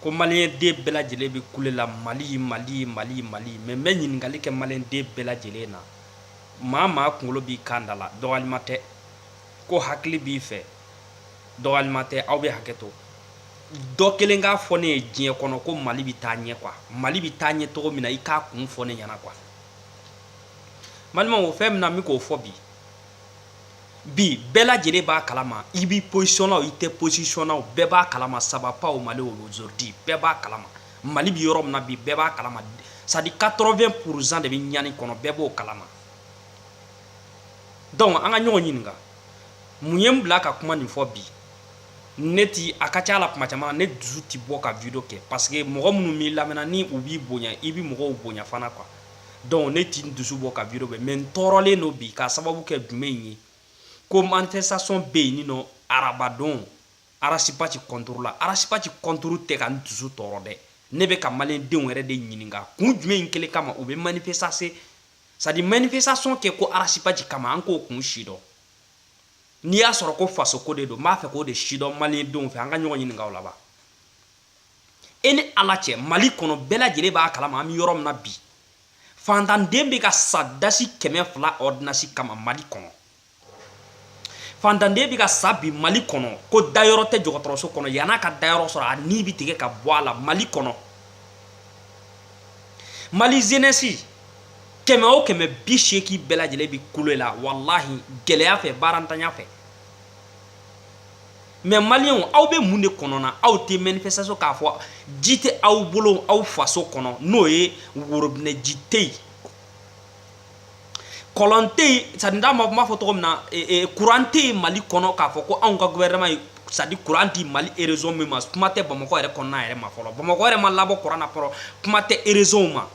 ko maliyɛn den bɛɛ lajɛlen bɛ kule la mali mali mali mali mais n bɛ ɲininkali kɛ maliyɛn den bɛɛ lajɛlen na maa maa kunkolo b'i kan da la don walima tɛ ko hakili b'i fɛ don walima tɛ aw bɛ hakɛ to dɔ kelen k'a fɔ ne ye diɲɛ kɔnɔ ko mali bɛ taa ɲɛ quoi mali bɛ taa ɲɛ cogo min na i k'a kun fɔ ne ɲɛna quoi n balimaw o fɛn min na n bɛ k'o fɔ bi bi bɛɛ lajɛlen b'a kalama i bi position na i tɛ position na bɛɛ b'a kalama ça va pas au Mali aujourd'hui bɛɛ b'a kalama Mali bɛ yɔrɔ min na bi bɛɛ b'a kalama c'est à dire 80 pourcent de bɛ ɲani kɔnɔ bɛɛ b'o kalama donc an ka ɲɔgɔn ɲininka mun ye n bila ka kuma nin fɔ bi ne ti a ka ca la kuma caman ne dusu ti bɔ ka video kɛ parce que mɔgɔ minnu b'i lamɛnna ni u b'i bonya i bɛ mɔgɔw bonya fana quoi donc ne ti n dusu bɔ ka video kɛ mais n tɔɔrɔlen don bi ka sababu kɛ jumɛn in ye ko manifestation bɛ yen n'o arabadon Ras Bath contrôle la Ras Bath contrôle tɛ ka n dusu tɔɔrɔ dɛ ne bɛ ka maliyɛn denw yɛrɛ de ɲininka kun jumɛn in kelen kama u bɛ manifestation c'est à dire manifestation kɛ ko Ras Bath kama an k'o kun sidɔn n'i y'a sɔrɔ ko fasoko de don n b'a fɛ k'o de sidɔn maliyɛn denw fɛ an ka ɲɔgɔn ɲininka laban e ni ala cɛ mali kɔnɔ bɛɛ lajɛlen b'a kalama an bɛ yɔrɔ min na bi fantanden bɛ ka sa dasi kɛmɛ fila ordonnance kama mali kɔnɔ fantanden bɛ ka sa bi mali kɔnɔ ko dayɔrɔ tɛ jɔgɔtɔrɔso kɔnɔ yann'a ka dayɔrɔ sɔrɔ a ni bɛ tigɛ ka bɔ a la mali kɔnɔ mali jeunesse kɛmɛ o kɛmɛ biseegin bɛɛ lajɛlen bɛ kule la walahi gɛlɛya fɛ baarantanya fɛ mais maliyɛnw aw bɛ mun de kɔnɔna aw tɛ manifestation k'a fɔ ji tɛ aw bolo aw faso kɔnɔ n'o ye worobinɛ ji tɛ yen kɔlɔn tɛ yen c'est à dire n t'a dɔn n b'a fɔ cogo min na kuran tɛ yen mali kɔnɔ k'a fɔ ko anw ka gouvernement ye c'est à dire kuran di mali région min ma kuma tɛ bamakɔ yɛrɛ kɔnɔna yɛrɛ ma fɔlɔ bamakɔ yɛrɛ ma labɔ kuran na fɔlɔ kuma tɛ régionw ma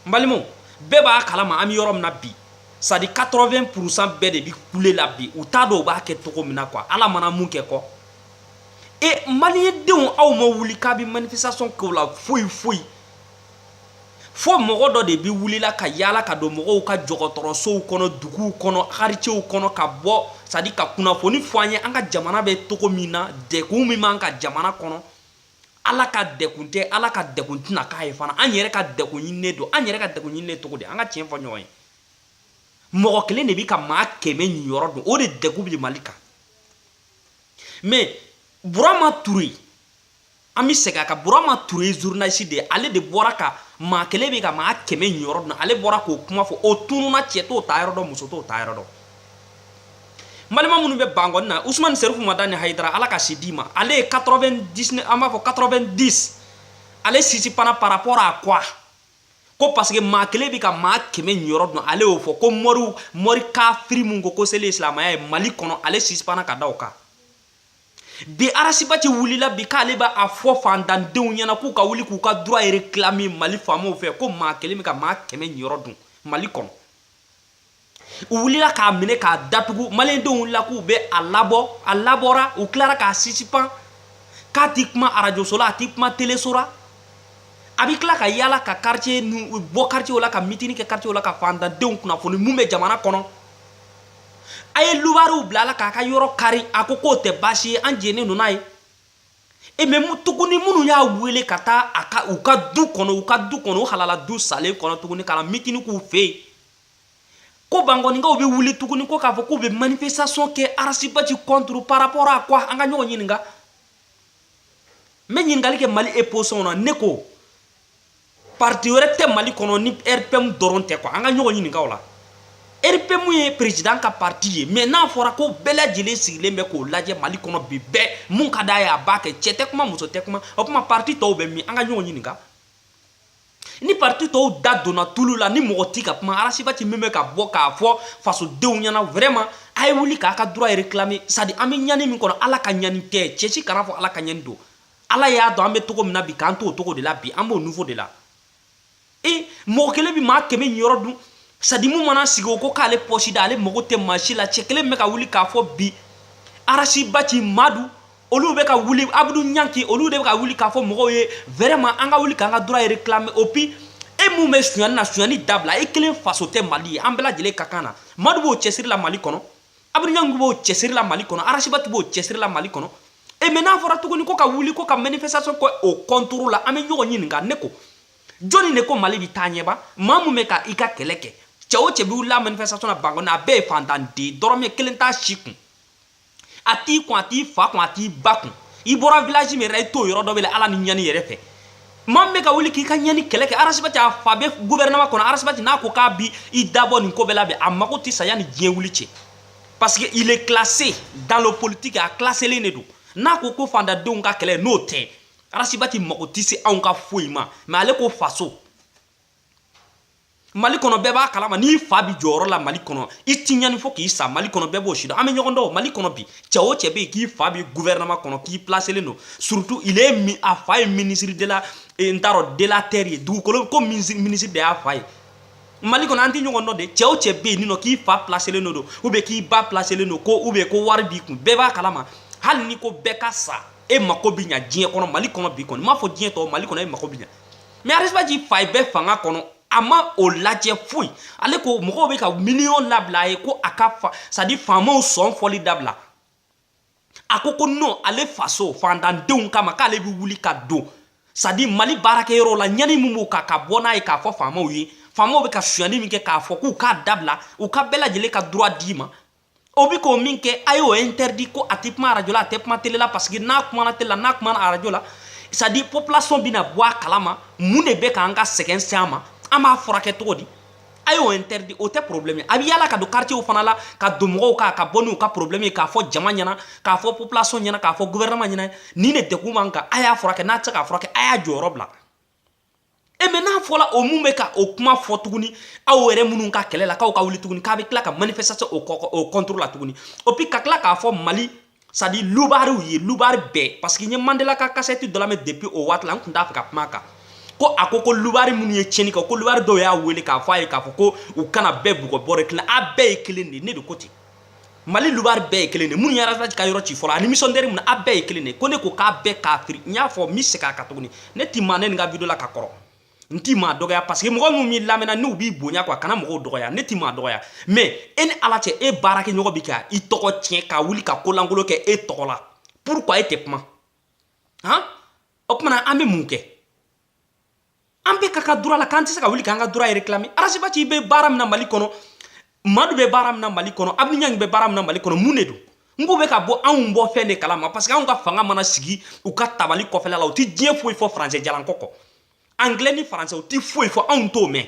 n balimaw bɛɛ b'a kalama an bɛ yɔrɔ min na bi c'est à dire 80 pourcent bɛɛ de bɛ kule la bi u t'a dɔn u b'a kɛ cogo min na quoi ala mana mun kɛ kɔ e maliyɛndenw aw ma wuli k'a bɛ manifestation kɛ o la foyi foyi fo mɔgɔ dɔ de bɛ wulila ka yaala ka don mɔgɔw ka jɔgɔtɔrɔsow kɔnɔ duguw kɔnɔ quartierw kɔnɔ ka bɔ c'est à dire ka kunnafoni fɔ an ye an ka jamana bɛ cogo min na dɛkun min b'an ka jamana kɔnɔ ala ka dɛkun tɛ ala ka dɛkun tɛna k'a ye fana an yɛrɛ ka dɛkun ɲininen don an yɛrɛ ka dɛkun ɲininen cogo di an ka tiɲɛ fɔ ɲɔgɔn ye mɔgɔ kelen de bi ka maa kɛmɛ niyɔrɔ dun o de dɛkun bi mali kan mais burama ture an bi segin a kan burama ture journaliste de ale de bɔra ka maa kelen bi ka maa kɛmɛ niyɔrɔ dun ale bɔra k'o kuma fɔ o tununa cɛ t'o taayɔrɔ dɔn muso t'o taayɔrɔ dɔn n balima minnu bɛ bangɔni na usumani serifu madani hayidara ala ka si d'i ma ale ye 99 an b'a fɔ 90 ale sisipanna par rapport à quoi ko parce que maa kelen bɛ ka maa kɛmɛ ɲɔrɔ dun ale y'o fɔ ko mɔriw mɔri kafiri mun ko ko seli ye silamaya ye mali kɔnɔ ale sisipanna ka da o kan bi arasibati wulila bi k'ale b'a fɔ fantandenw ɲɛna k'u ka wuli k'u ka droit réclamer mali faamaw fɛ ko maa kelen bɛ ka maa kɛmɛ ɲɔrɔ dun mali kɔnɔ u wulila k'a minɛ k'a datugu malidenw wulila k'u bɛ a labɔ a labɔra u tilara k'a sisipan k'a tɛ kuma arajoso la a tɛ kuma teleso la a bɛ tila ka yaala ka kariti bɔ karitiw la ka mitini kɛ karitiw la ka fantandenw kunnafoni minnu bɛ jamana kɔnɔ a ye lubariw bila la k'a ka yɔrɔ kari a ko k'o tɛ baasi ye an jɛnna n'o ye e mais tuguni minnu y'a wele ka taa a ka u ka du kɔnɔ u ka du kɔnɔ u halala du sanlen kɔnɔ tuguni ka mitini k'u fɛ yen ko bankɔninkaw bɛ wuli tuguni ko k'a fɔ k'u bɛ manifestation kɛ arasibati contre par rapport à quoi an ka ɲɔgɔn ɲininka n bɛ ɲininkali kɛ mali opposition na ne ko parti wɛrɛ tɛ mali kɔnɔ ni rpm dɔrɔn tɛ quoi an ka ɲɔgɔn ɲininka o la rpm ye président ka parti ye mais n'a fɔra ko bɛɛ lajɛlen sigilen bɛ k'o lajɛ mali kɔnɔ bi bɛɛ mun ka d'a ye a b'a kɛ cɛ tɛ kuma muso tɛ kuma o tuma parti tɔw bɛ min an ka ɲɔgɔn ɲininka ni parti tɔw da donna tulu la ni mɔgɔ t'i ka kuma arasibati min bɛ ka bɔ k'a fɔ fasodenw ɲɛna vraiment a ye wuli k'a ka droit réclamer sadi an bɛ ɲani min kɔnɔ ala ka ɲani tɛ cɛ si kana fɔ ala ka ɲani don ala y'a dɔn an bɛ togo min na bi k'an t'o togo de la bi an b'o niveau de la e mɔgɔ kelen bɛ maa kɛmɛ yɔrɔ dun sadi mun mana sigi o ko k'ale pɔsi da ale mago tɛ maa si la cɛ kelen bɛ ka wuli k'a fɔ bi arasibati madu olu bɛ ka wuli abudu ɲanki olu de bɛ ka wuli k'a fɔ mɔgɔw ye vraiment an ka wuli k'an ka droit réclamer et puis e mun bɛ sonyani na sonyani dabila e kelen faso tɛ mali ye an bɛɛ lajɛlen ka kan na madu b'o cɛsiri la mali kɔnɔ abudu ɲanki b'o cɛsiri la mali kɔnɔ arasibati b'o cɛsiri la mali kɔnɔ e mais n'a fɔra tuguni ko ka wuli ko ka manifestation kɛ o contre la an bɛ ɲɔgɔn ɲininka ne ko jɔni de ko mali bɛ taa ɲɛ ba maa mun bɛ ka i ka kɛlɛ kɛ cɛ o cɛ bɛ wulila manifestation na bangɔni a bɛɛ ye fantanden dɔrɔmɛ kelen t'a si kun a t'i kun a t'i fa kun a t'i ba kun i bɔra village min yɛrɛ i t'o yɔrɔ dɔn bilen ala ni ɲani yɛrɛ fɛ maa min bɛ ka wuli k'i ka ɲani kɛlɛ kɛ arasibati a fa bɛ gouvernement kɔnɔ arasibati n'a ko k'a b'i da bɔ nin ko bɛɛ la bi a mago tɛ sa yanni diɲɛ wuli cɛ parce que il est classé dans le politique a classelen de don n'a ko ko fantandenw ka kɛlɛ n'o tɛ arasibati mago tɛ se anw ka foyi ma mais ale ko faso mali kɔnɔ bɛɛ b'a kalama n'i fa bi jɔyɔrɔ la mali kɔnɔ i ti ɲani fo k'i sa mali kɔnɔ bɛɛ b'o si dɔn an bɛ ɲɔgɔn dɔn mali kɔnɔ bi cɛ o cɛ bɛ yen k'i fa bi gouvernement kɔnɔ k'i plaselen don surtout il est mi a fa ye ministre de la n t'a dɔn de la terre ye dugukolo ko minisiri de y'a fa ye mali kɔnɔ an tɛ ɲɔgɔn dɔn de cɛ o cɛ bɛ yen ninɔ k'i fa plaselen don don ou bien k'i ba plaselen don ko ou bien ko wari b'i kun bɛɛ b'a kalama hali ni ko bɛɛ ka sa e mako bɛ ɲa diɲɛ kɔnɔ mali kɔnɔ bi kɔni n m'a fɔ diɲɛ tɔw mali kɔnɔ e mako bɛ ɲa mais arasibaci fa yɛrɛ bɛ fanga kɔnɔ a ma o lajɛ foyi ale ko mɔgɔw bɛ ka miliyɔn labila a ye ko a ka c'est à dire faamaw sɔn fɔli dabila a ko ko non ale faso fantandenw kama k'ale bɛ wuli ka don c'est à dire mali baarakɛyɔrɔ la ɲani min b'u kan ka bɔ n'a ye k'a fɔ faamaw ye faamaw bɛ ka sonyani min kɛ k'a fɔ k'u k'a dabila u ka bɛɛ lajɛlen ka droit d'i ma o bi ka min kɛ a y'o interdit ko a tɛ kuma arajo la a tɛ kuma tele la parce que n'a kumana tele la n'a kumana arajo la c'est à dire population bɛna bɔ a kalama mun de bɛ k'an ka sɛgɛn se an ma an b'a furakɛ cogo di a y'o interdit o tɛ problème a bɛ yala ka don quartier fana la ka don mɔgɔw kan ka bɔ n'u ka problème ye k'a fɔ jama ɲɛna k'a fɔ population ɲɛna k'a fɔ gouvernement ɲɛna nin de degun b'an kan a y'a furakɛ n'a tɛ se k'a furakɛ a y'a jɔyɔrɔ bila e mais n'a fɔla o min bɛ ka o kuma fɔ tuguni aw yɛrɛ minnu ka kɛlɛ la k'aw ka wuli tuguni k'a bɛ tila ka manifestation o kɔ o contre la tuguni et puis ka tila k'a fɔ mali c'est à dire lubariw ye lubari bɛɛ parce que n ye mandela ka kasɛti dɔ lamɛn depuis o waati la n tun t'a fɛ ka kuma a kan ko a ko ko lubari minnu ye tiɲɛni kɛ ko lubari dɔw y'a wele k'a fɔ a ye k'a fɔ ko u kana bɛɛ bugɔ bɔrɛ kelen a bɛɛ ye kelen de ye ne de ko ten mali lubari bɛɛ ye kelen de minnu ye arasi ka yɔrɔ ci fɔlɔ ani misɔndɛri mun a bɛɛ ye kelen de ko ne ko k'a bɛɛ k'a firi n y'a fɔ n bɛ segin a kan tuguni ne ti maa neni n ka video la ka kɔrɔ n ti maa dɔgɔya parce que mɔgɔ minnu b'i lamɛnna n'u b'i bonya quoi kana mɔgɔw dɔgɔya ne ti maa dɔgɔya mais e ni ala cɛ e baarakɛɲɔgɔn bi ka i tɔgɔ tiɲɛ ka wuli ka kolankolon kɛ e tɔgɔ la pourquoi e tɛ kuma han o tuma na an bɛ mun kɛ an bɛ ka ka droit la k'an tɛ se ka wuli k'an ka droit réclamer arasibaci bɛ baara min na mali kɔnɔ madu bɛ baara min na mali kɔnɔ abdoul niang bɛ baara min na mali kɔnɔ mun de don n ko bɛ ka bɔ anw bɔ fɛn de kalama parce que anw ka fanga mana sigi u ka tabali kɔfɛla la u tɛ diɲɛ foyi fɔ français jalan kɔ kɔ anglais ni français u tɛ foyi fɔ anw t'o mɛn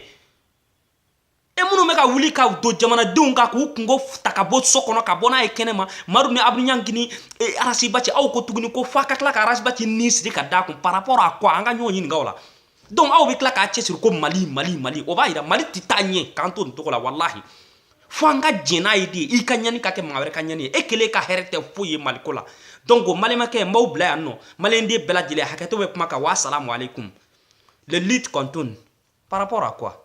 e minnu bɛ ka wuli ka don jamanadenw kan k'u kungo ta ka bɔ so kɔnɔ ka bɔ n'a ye kɛnɛma madu ni abdoul niang ni e, arasibaci aw ko tuguni ko f'a ka tila ka arasibaci ni siri ka d'a kun par rapport à quoi an ka ɲɔgɔn ɲininka o la donc aw bɛ tila k'a cɛsiri ko mali mali mali o b'a yira mali tɛ taa ɲɛ k'an to nin cogo la walahi fo an ka jɛn n'a ye de i ka ɲani ka kɛ maa wɛrɛ ka ɲani ye e kelen ka hɛrɛ tɛ foyi ye maliko la donc o malimakɛ n b'aw bila yan nɔ maliyɛnden bɛɛ lajɛlen hakɛto bɛ kuma kan wa salamu aleykum le lutte continue par rapport à quoi